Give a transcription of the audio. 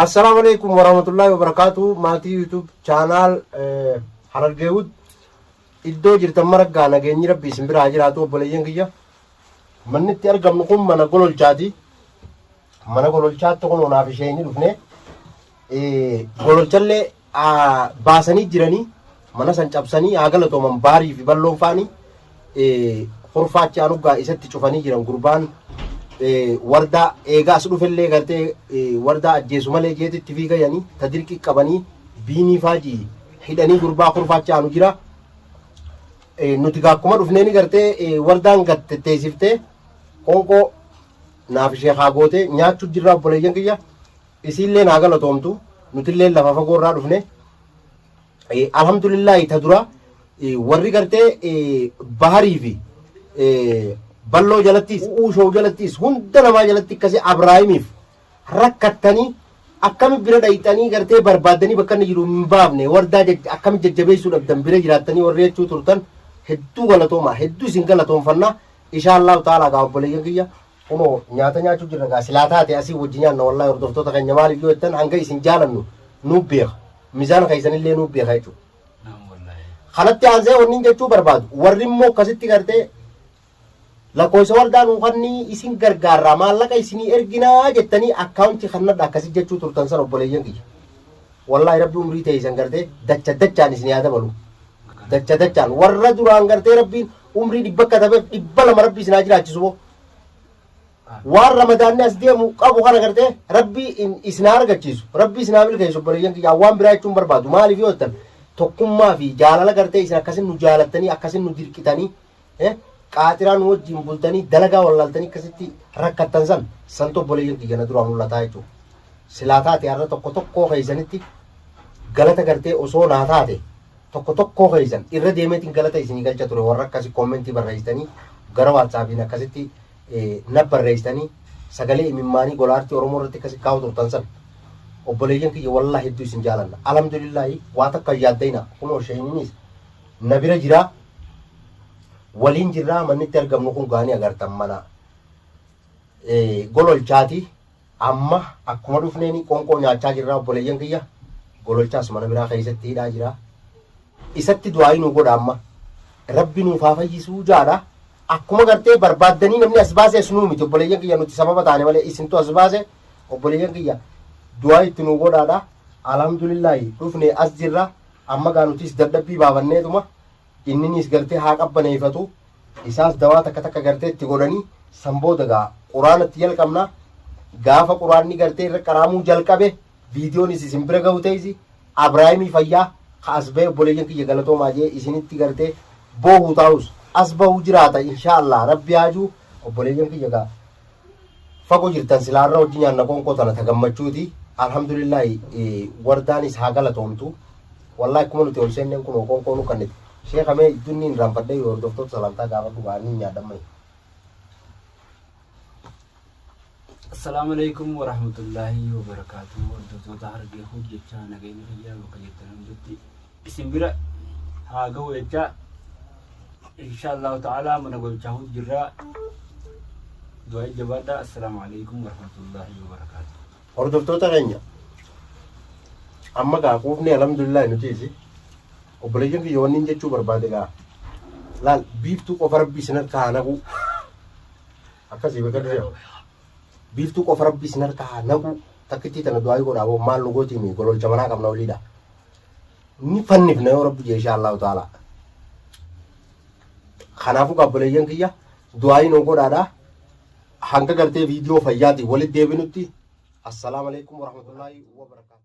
Assalaamu alaikum warahmatullahi wabarakatuh maatii YouTube chaanaal eh, Harargee Wood iddoo jirtan maraggaa nageenyi rabbi isin biraa haa jiraatu obboleeyyan kiyya manni itti argamnu kun mana gololchaati mana gololchaatti kun onaaf ishee ni dhufne eh, gololchallee baasanii jiranii mana san cabsanii haa galatooman baarii fi balloon faani kurfaa achi aanuggaa isatti cufanii jiran gurbaan wardaa eegaa as dhufellee gartee wardaa ajjeesu malee jeetitti fiigayanii ta dirqii qabanii biinii faajii hidhanii gurbaa kurfaa achi aanu jira. nuti gaakkuma dhufnee ni gartee wardaan gatteessiftee qoonqoo naaf ishee haa gootee nyaachuu jirraa obboleeyyan kiyya Isiilleen haa galatoomtu nutilleen lafa fagoo irraa dhufne Eh, alhamdulillaahi ta dura eh, warri gartee eh, baharii fi eh, balloo jalattis uushoo jalattis hunda namaa jalatti akkasii abraahimiif rakkattanii akkami bira dhayxanii gartee barbaaddanii bakka inni jiru hin baafne wardaa jaj- akkami jajjabeessuu dhabdan bira jiraattanii warri jechuu turtan hedduu galatoomaa hedduu isin galatoomfannaa inshaallahu ta'ala gaa obboleeyyan kiyya Kuno nyaata nyaachu jirra gaa silaa taate asii wajji nyaanna wallahi hordoftoota keenya maaliif yoo jettan hanga isin jaalannu nuu beeka mizaan keessanillee nuu beeka jechuudha. Kanatti aansee wanni jechuu barbaadu warri immoo akkasitti gartee lakkoofsa waldaa nuu kannii isin gargaarraa maallaqa isinii erginaa jettanii akkaawuntii kannadha akkasii jechuu turtan san obboleeyyan kiyya. Wallahi rabbi umrii ta'e isan gartee dacha dachaan isin yaa dabalu. Dacha dachaan warra duraan gartee rabbiin umrii dhibba akka tabeef dhibba lama rabbii isin haa jiraachisu boo waan ramadaanni as deemu qabu kana gartee rabbii in- isin haa argachiisu rabbii isin haa milkeessu obboleeyyan kiyyaa waan biraa jechuun barbaadu maaliif yoo jettan tokkummaa fi jaalala gartee isin akkasin nu jaalattanii akkasin nu dirqitanii eh, qaaxiraa nu wajjin bultanii dalagaa wallaaltanii akkasitti rakkattan san santu obboleeyyan kiyya na duraa mul'ataa jechuudha silaa taate har'a tokko tokkoo keessanitti galata gartee osoo naa taate Tokko tokkoo keessan irra deemeetiin galata isinii galcha ture warra akkasi commenti barreessitanii gara whatsappiin akkasitti naf barreessitanii sagalee imimmaanii gola artii oromoo irratti akkasi kaa'u turtan san obboleeyyan kiyya wallaa hedduu isin jaalanna alhamdulillaahi waa takka hin yaaddayna kunoo sheeninis na bira jiraa waliin jirraa mannitti argamnu kun gaanii agartan mana gololchaati Amma akkuma dhufneeni qonqoo nyaachaa jirraa obboleeyyan kiyya gololchaas mana biraa keessatti hidhaa jiraa isatti du'aa'ii nuu godha amma rabbi nuuf haa fayyisuu jaadha akkuma gartee barbaaddanii namni as baase as nuu miti obboleeyyan kiyya nuti sababa taane malee isintu as baase obboleeyyan kiyya du'aa itti nuu godhaadha alhamdulillaahi dhufne as jirra amma gaa nutis dadhabbii baafanneetuma Inniniis gartee haa qabbaneeyfatu, isaas dawaa takka takka gartee itti godhanii, san booda gaa quraana itti jalqabna, gaafa quraanni gartee irra qaraamuu jalqabe viidiyoonis isin bira gahu teeysi, Abraahimii fayyaa ka as bahe obboleeyyan kiyya galatoomaa jee isinitti gartee boohu taahus as bahu jiraata inshaa allaah rabbi haajuu obboleeyyan kiyya gaa. fago jirtan silaa har'a hojji nyaanna qoonqoo tana ta gammachuuti alhamdulillaahi wardaanis haa galatoomtu wallahi akkuma nuti ol seenneen kunoo qoonqoo nu kannite sheeka mee dunni hin raanfadhee yoo hordoftoota salantaa gaafadhu baanii hin nyaadhammai Assalaamu alaikum warahmatullaahi wabarakaatu. Hordoftoota hargee hojjechaa nageenya fayyaa bakka jirtan hundatti isin bira haa ga'u jechaa insha Allahu ta'ala mana gochaa hundi jirraa du'aa jabaadha assalaamu alaikum warahmatullahi wabarakaatu hordoftoota keenya amma gaa quufni alhamdulillah nutiisi obboleeyyan kiyya wanni hin jechuu barbaade gaa laal biiftuu qofa rabbi isin harkaa haa naquu akkasii bakka dura biiftuu qofa rabbi isin harkaa haa naquu takkittii tana du'aa godhaa boo maal nu gootiin gololcha manaa qabna oliidha ni fannifna yoo rabbi jeeshaa allahu ta'ala kanaafuu gaabboleeyyan kiyya du'aayi noo godhaadha hanga gartee viidiyoo fayyaatiin walitti deebinutti assalaamu alaikum warahmatullaahi wabarakaatu